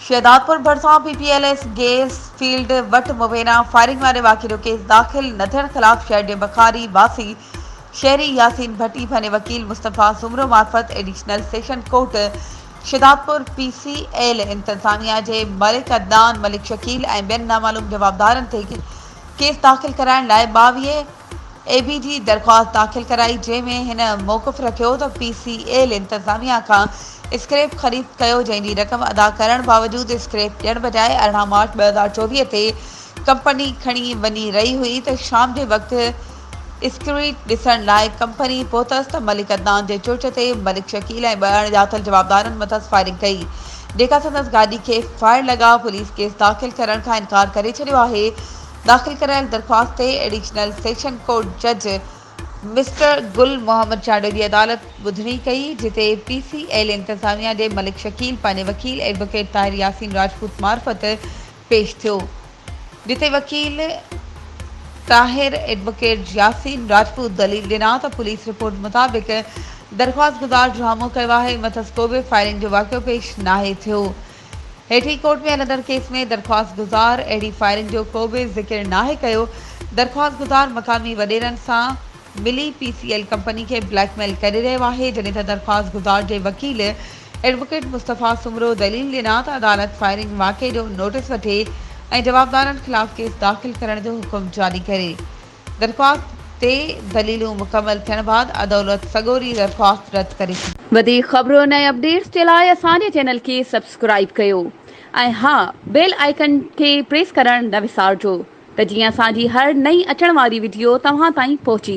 شهدادپور ڀرسان P P L S gas field وٽ مبينا فائرنگ واري واقعي جو ڪيس داخل نه ٿيڻ خلاف شهر جي بخاري واسي شهري ياسين ڀٽي پنهنجي وڪيل مصطفيٰ سومرو معرفت additional session court Shahdadpur P C L انتظاميا جي ملڪ عدنان ملڪ شڪيل ۽ ٻين نامعلوم جوابدارن تي ڪيس داخل ڪرائڻ لاء ٻاويهه اي بي جي درخواست داخل ڪرائي جنهن ۾ هن موقف رکيو ته پي سي ايل انتظاميا کان اسڪريپ خريد ڪيو جنهن جي رقم ادا ڪرڻ باوجود اسڪريپ ڏيڻ بجاء ارڙهن مارچ ٻه هزار چوويهه تي ڪمپني کڻي وڃي رهي هئي ته شام جي وقت اسڪريپ ڏسڻ لاء ڪمپني پهتس ته ملڪ عدنان جي چرچ تي ملڪ شڪيل ۽ ٻه اڻ ڄاتل جوابدارن مٿس فائرنگ ڪئي جيڪا سندس گاڏي کي فائر لڳا پوليس ڪيس داخل ڪرڻ کان انڪار ڪري ڇڏيو آهي داخل ڪرايل درخواست تي ايڊيشنل سيشن ڪورٽ جج مسٽر گل محمد چانڊيو جي عدالت ٻڌڻي ڪئي، جتي پي سي ايل انتظاميا جي ملڪ شڪيل پنهنجي وڪيل ايڊووڪيٽ طاهر ياسين راجپوت معرفت پيش ٿيو، جتي وڪيل طاهر ايڊووڪيٽ ياسين راجپوت دليل ڏنا ته پوليس رپورٽ مطابق درخواستگذار ڊرامو ڪيو آهي، مٿس ڪوبه فائرنگ جو واقعو پيش ناهي ٿيو. هيٺين ڪورٽ ۾ هلندڙ ڪيس ۾ درخواستگذار اهڙي فائرنگ جو ڪو به ذڪر ناهي ڪيو، درخواستگذار مقامي وڏيرن سان ملي پي سي ايل ڪمپني کي بليڪ ميل ڪري رهيو آهي، جڏهن ته درخواستگذار جي وڪيل ايڊووڪيٽ مصطفيٰ سومرو دليل ڏنا ته عدالت فائرنگ واقعي جو نوٽيس وٺي ۽ جوابدارن خلاف ڪيس داخل ڪرڻ جو حڪم جاري ڪري. درخواست تي دليلون مڪمل ٿيڻ بعد عدولت سڳوري درخواست رد ڪري ڇڏي. وڌيڪ خبرن ۽ اپڊيٽس جي لاء اسان جي چينل کي سبسڪرائيب ڪيو ۽ ها بيل آئيڪن کي پريس ڪرڻ نه وسارجو ته جيئن اسان جي هر نئين اچڻ واري وڊيو توهان تائين پهچي